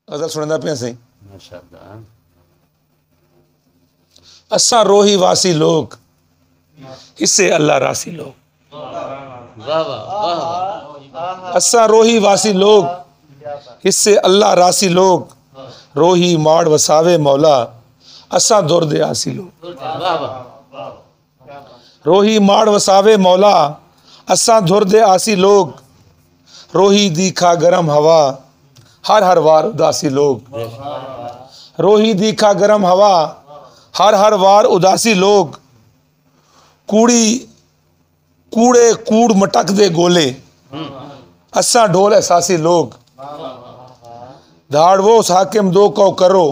غزل سندا پیا سی اساں روہی واسی لوگ اسے اللہ راسی لوگ اساں روہی واسی لوگ اسے اللہ راسی لوگ روہی ماڑ وساوے مولا اساں دور دے آسی لوگ روہی ماڑ وساوے مولا اساں دھر دے آسی لوگ روہی دی کھا گرم ہوا ہر ہر وار اداسی لوگ روہی دی کھا گرم ہوا ہر ہر وار اداسی لوگ کوڑی کوڑے کوڑ مٹک دے گولے اساں ڈھول احساسی لوگ دھاڑ وہ اس حاکم دو کو کرو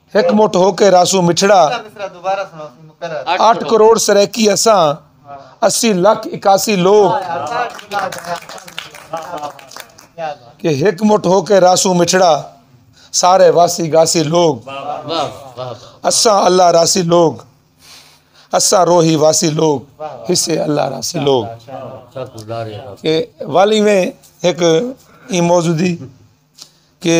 ہک مٹھ ہو کے رہسوں مٹھڑا آٹھ کروڑ سرائیکی اساں اسی لکھ اکاسی لوگ کہ ہک مٹھ ہو کے رہسوں مٹھڑا سارے واسی گاسی لوگ اساں اللہ راسی لوگ اساں روحی واسی لوگ حصے اللہ راسی لوگ کہ والی میں ایک موضوع دی کہ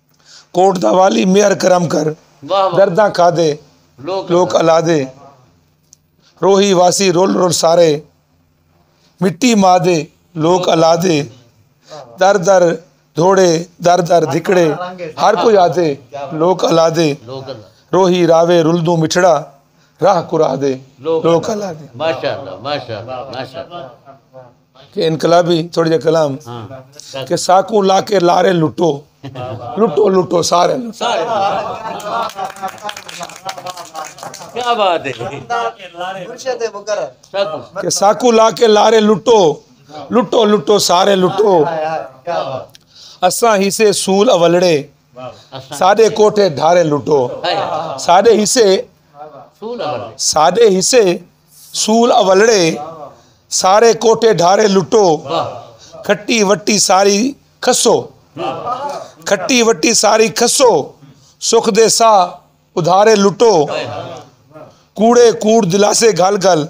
کوٹ دا والی مہر کرم کر درداں کھادے لوک الادے روہی واسی رول رول سارے مٹی ماں دے لوک الادے در در دھوڑے در در دھکڑے ہر کوئی آدھے لوک الادے روہی راوے رلدوں مٹھڑا راہ کرا دے لوک الادے ماشاءاللہ ماشاءاللہ ماشاءاللہ کہ انقلابی تھوڑے جے کلام کہ ساکوں لا کے لارے لٹو لٹو لٹو سارے کہ ساکوں لا کے لارے لٹو لٹو لٹو سارے لٹو اساں حصے سول اولڑے ساڈے کوٹھے دھارے لٹو ساڈے حصے ساڈے حصے سول اولڑے سارے کوٹے ڈھارے لٹو کھٹی وٹی ساری کھسو کھٹی وٹی ساری کھسو سکھ دے سا ادھارے لٹو کوڑے کوڑ دلاسے گھل گھل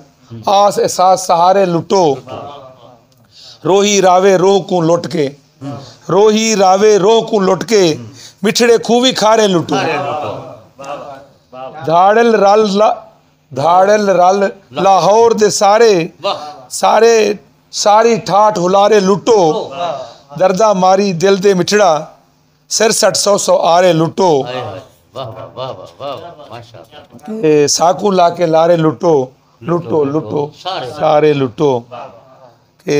آس احساس سہارے لٹو روہی راوے روہ کوں لٹ کے روہی راوے روہ کوں لٹ کے مٹھڑے کھوی کھارے لٹو دھاڑل رل دھاڑل رل لاہور دے سارے سارے ساری ٹھاٹھ ہلارے لٹو درداں ماری دل دے مٹھڑا سر سٹ سو سو آرے لٹو ساکو لا کے لارے لٹو لٹو لٹو سارے لٹو کہ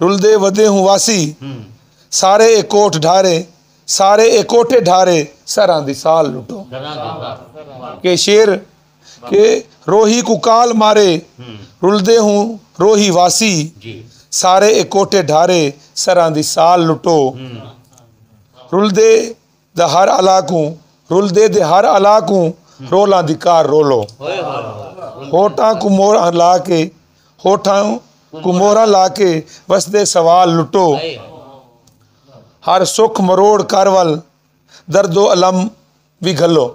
رلدے ودے ہوں واسی سارے اے کوٹھ ڈھارے سارے اے کوٹھے ڈھارے سراں دی سال لٹو کہ شیر کہ روہی کو کال مارے رلدے ہوں روہی واسی سارے اے کوٹھے ڈھارے سراں دی سال لٹو رلدے دا ہر الا کوں رلدے دے ہر الا کوں رولاں دی کار رولو ہوٹاں کوں موراں لا کے ہوٹاں کوں موراں لا کے وسدے سوال لٹو ہر سکھ مروڑ کر ول درد و الم وی گھلو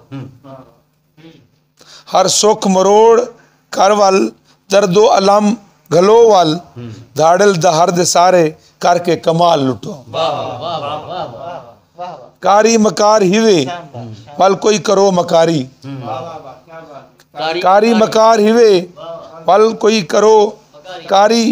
ہر سکھ مروڑ کر ول درد و الم گھلو ول دھاڑل دہر دے سارے کر کے کمال لٹو کاری مکار ہیوے ول کوئی کرو مکاری کاری مکار ہیوے ول کوئی کرو کاری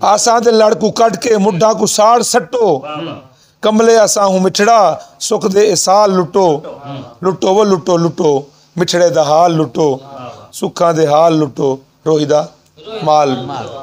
آساں دے لڑ کوں کڈھ کے مڈھاں کوں ساڑ سٹو کملے آساں ہوں مٹھڑا سکھ دے اے سال لٹو لٹو وہ لٹو لٹو مٹھڑے دا حال لٹو سکھاں دے حال لٹو روہی دا مال لٹو